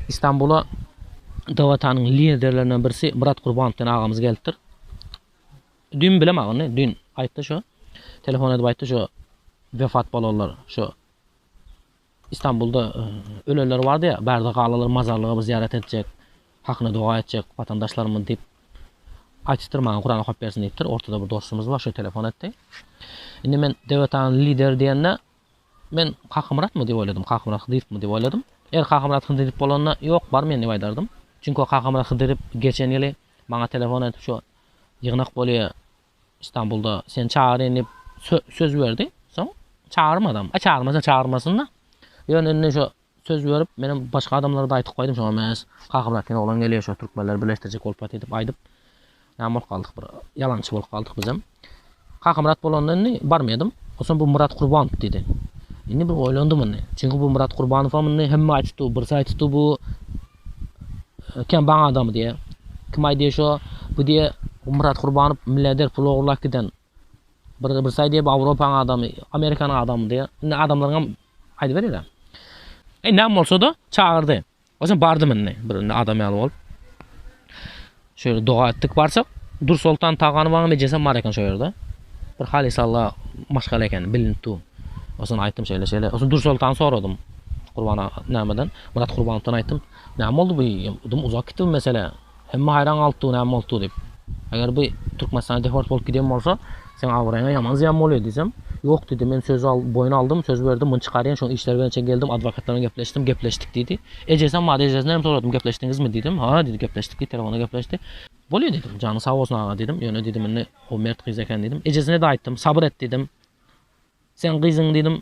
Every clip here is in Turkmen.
Istanbula Dawatanyň liderlerinden birisi Myrat Gurbanov diýen agamyz gelipdir. Düýn bilem aga ony, düýn aýtdy şo. Telefon edip aýtdy şo wepat bolanlar, şo Istanbulda e, ölenler bardy ýa, bärde galalar mazarlyga bir zyýarat etjek, hakyna doga etjek watandaşlarymyz diýip aýtdypdyr maňa Kuran okap bersin diýipdir. Ortada bir dostumyz bar, şo telefon etdi. Indi men Dawatanyň lideri diýende Men Kakamyratmy diýip oýladym, Kakamyrat Hydyrowymy diýip oýladym. Eger Kakamyrat Hydyrow bolanda, ýok, bar men diýip aýdardym. Çünki o Kakamyrat Hydyrow geçen ýyly maňa telefon edip şu ýygnak bolýa Istanbulda, seni çagyrýan diýip söz berdi. Soň çagyrmadam. Aý çagyrmasa çagyrmasyn-da. Ýöne indi şu Söz berip, menem başga adamlara-da aýtyp goýdum şoňa meňes. Kaka brat diýen oglan gelýär, şo türkmenleri birleşdirjek bolup ýatyr diýip aýdyp, näme bolup galdyk bir, ýalançy bolup galdyk bizem. Kakamyrat bolanda indi barmaýadym. Onsoň bu Myrat Kurbanow diýdi. Indi bir oýlandym indi. Çünki bu Myrat Kurbanowam indi hemme aýdypdy, birisi aýdypdy bu kembaň adam diýe. Kim aýdýa şo, bu diýe Myrat Kurbanow milliarder pul ogurlap giden. Birisi aýdýar, bu Owropaň adamy, Amerikanyň adamy diýýär. Indi adamlaryňam aýdyberer-ä. Näme bolsa-da, çagyrdy. Oýsem bardym indi, bir indi adam ýaly bolup. Şeýle doga etdik, barsak, Dursoltan Taganowaň ejesem bar eken şo ýerde. Bir halysalla maşgala ekeni, bilinip dur. Oýsem aýtdym şeýle-şeýle. Oýsem Dursoltany soradym. Gurban aga nämeden, Myrat Gurbanowadan aýtdym. Näme boldy bu? Uzap gitdi bu mesele. Hemme haýran galypdy näme bolupdygy diýip. Eger bu Türkmenistana deport bolup giden bolsa, seň abraýyňa ýaman zyýan bolýar diýsem, Ýok diýdi, men söz boýun aldym, söz berdim, muny çykarýan, şoň işleri bilen çen geldim, adwokatlar bilen gepleşdim, gepleşdik diýdi. Ejesem bardy, ejesine hem soradym, gepleşdiňizmi diýdim. Ha diýdi, gepleşdik diýdi, telefonda gepleşdi. Bolýar diýdim, janyň sag bolsun aga diýdim, ýöne diýdim indi o mert gyz eken diýdim. Ejesine-de aýtdym, sabyr et diýdim. Seň gyzyň diýdim,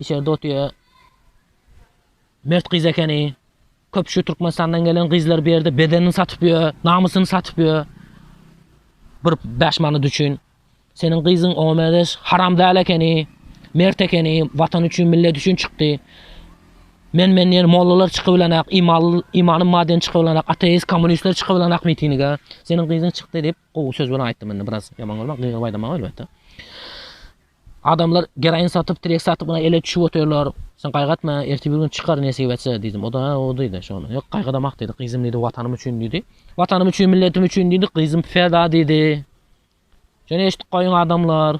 içerde otyr. Mert gyz ekeni. Köp şu Türkmenistandan gelen gyzlar bu ýerde bedenini satyp ýör, namysyny satyp ýör. Bir bäş manat üçin. Seniň gyzyň OMDS haram däl ekeni, mert ekeni, watan üçin, millet üçin çykdy. Men men diýen mollalar çykybilenak, imanly, imany maden çykybilenak, ateist, kommunistler çykybilenak mitinige. Seniň gyzyň çykdy diýip, Gowy söz bilen aýtdym indi biraz ýaman görme gygyryp aýdamok elbetde. Adamlar geroin satyp, trek satyp ina ele düşüp otyrlar. Sen gaýgatma, ertir bir gün çykar nesip etse diýdim. O da o diýdi şony. Ýok gaýgadamak diýdi. Gyzym diýdi watanym üçin diýdi. Watanym üçin, milletim üçin diýdi. Gyzym peda diýdi. Şony eşidip goýuň adamlar.